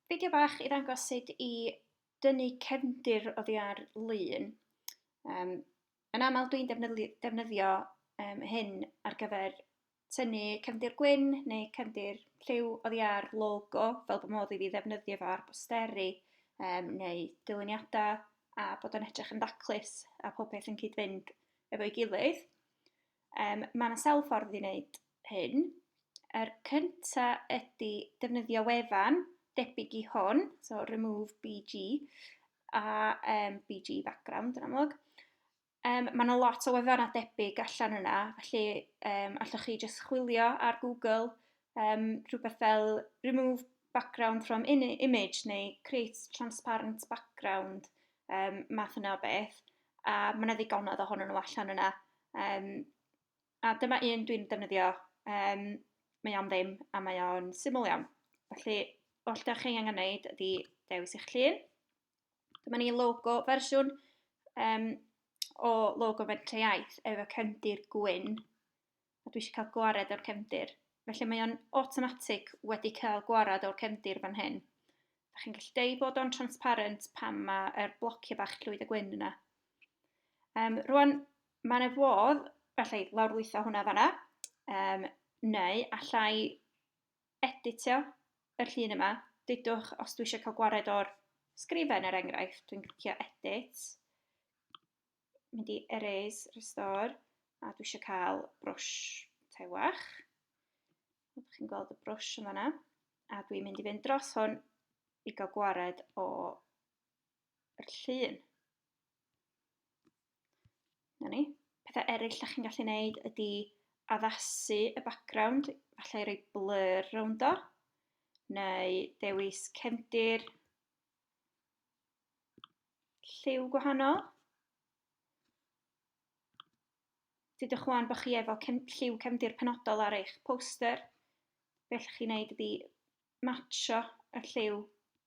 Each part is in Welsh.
Fideo bach i ddangos sut i dynnu cefndir oddi ar lun. Um, yn aml dwi'n defnyddio um, hyn ar gyfer tynnu cefndir gwyn neu cefndir lliw oddi ar logo, fel bod modd i fi ddefnyddio fo ar bosteri um, neu dyluniadau a bod o'n edrych yn daclus a popeth yn cyd-fynd efo'i gilydd. Yym, mae 'na sawl ffordd i wneud hyn. Yr cynta ydy defnyddio wefan debyg i hwn, so remove BG, a um, BG background yn amlwg. Um, mae yna lot o wefannau debyg allan yna, felly um, allwch chi jyst chwilio ar Google um, rhywbeth fel remove background from in image neu create transparent background, um, math yna o beth. A mae yna ddigonedd ohonyn nhw allan yna. Yym, a dyma un dwi'n defnyddio, yym, mae o'n ddim a mae o'n syml iawn. Felly, oll da chi angen wneud ydy dewis eich llun. Dyma ni logo fersiwn um, o logo Fentre Iaith efo cefndir gwyn. A dwi eisiau cael gwared o'r cefndir. Felly mae o'n automatic wedi cael gwared o'r cefndir fan hyn. Da chi'n gallu deud bod o'n transparent pan mae'r blociau bach llwyd a gwyn yna. Um, rwan, mae yna fodd, felly, lawrlwytho hwnna fanna, um, neu allai editio yr llun yma. Dydwch, os dwi eisiau cael gwared o'r sgrifen er enghraifft, dwi'n clicio edit, mynd i erase, restore, a dwi eisiau cael brwsh tewach. Ydych chi'n gweld y brwsh yma yna? A dwi'n mynd i fynd dros hwn i gael gwared o yr llun. Na ni. Pethau eraill da chi'n gallu gwneud ydy addasu y background, falle i roi blur rownd o, neu dewis cefndir lliw gwahanol. Dydych chwan bod chi efo cem, lliw cefndir penodol ar eich poster, beth chi'n neud ydy matcho y lliw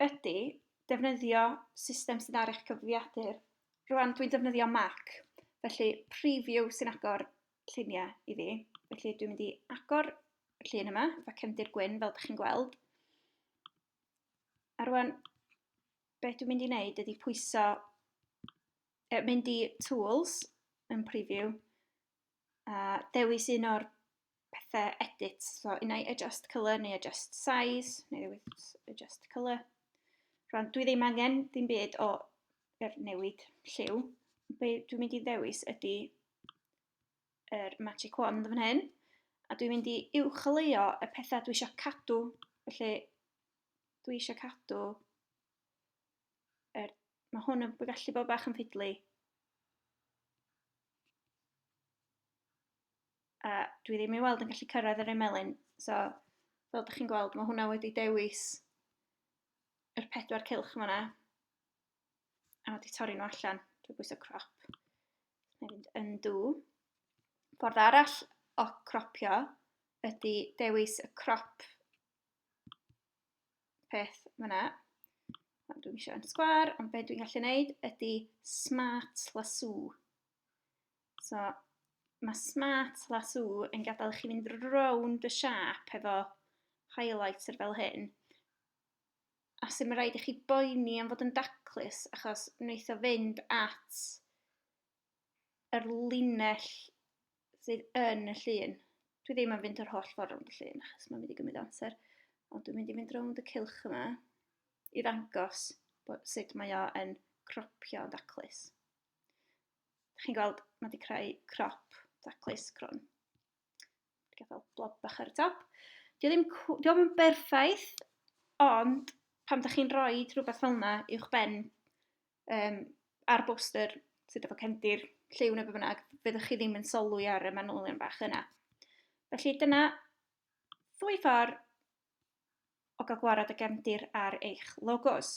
ydy defnyddio system sy'n ar eich cyfrifiadur. Rŵan dwi'n defnyddio Mac, felly preview sy'n agor lluniau i fi. Felly dwi'n mynd i agor y llun yma, efo cefndir gwyn fel ydych chi'n gweld. A rŵan, beth dwi'n mynd i wneud ydy pwyso, e, mynd i Tools yn Preview, a dewis un o'r pethau edit. So, un i adjust colour neu adjust size, neu ddewis adjust colour. Rwan, dwi ddim angen ddim byd o er newid lliw. Be dwi'n mynd i ddewis ydy yr er magic wand fan hyn. A dwi'n mynd i uwcholeuo y pethau dwi eisiau cadw. Felly, dwi eisiau cadw er, mae hwn yn gallu bod bach yn ffidlu. A dwi ddim i weld yn gallu cyrraedd yr emelyn, so fel ydych chi'n gweld, mae hwnna wedi dewis yr pedwar cilch yma. A wedi torri nhw allan drwy bwysau crop. Mae'n mynd yn dŵ. Ffordd arall o cropio ydy dewis y crop peth fyna. Dwi'n eisiau yn sgwar, ond beth dwi'n gallu gwneud ydy smart lasso. So, mae smart lasso yn gadael chi fynd rownd y siap efo highlighter fel hyn. A sy'n rhaid i chi boeni am fod yn daclus, achos wneith o fynd at yr linell sydd yn y llun. Dwi ddim yn fynd yr holl ffordd rownd y llun, achos mae'n mynd i gymryd amser. Ond dwi'n mynd i fynd rownd y cilch yma i ddangos bod sut mae o yn cropio yn daclus. Chi'n gweld, mae wedi creu crop daclus crwn. Gadael blob bach ar y top. Dio ddim, dio ddim yn berffaith, ond pam da chi'n rhoi rhywbeth fel yna i'wch ben um, ar boster sydd efo cefndir lliw neu beth bynnag, fyddwch chi ddim yn solwy ar y manylion bach yna. Felly dyna ddwy ffordd o gael gwared y gefndir ar eich logos.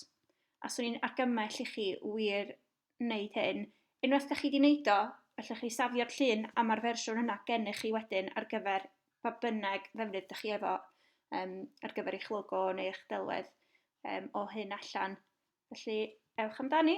A swn i'n argymell i chi wir wneud hyn. Unwaith da chi wedi wneud o, allwch chi safio'r llun a mae'r fersiwn yna gennych chi wedyn ar gyfer pa bynnag ddefnydd da chi efo um, ar gyfer eich logo neu eich delwedd um, o hyn allan. Felly, ewch amdani.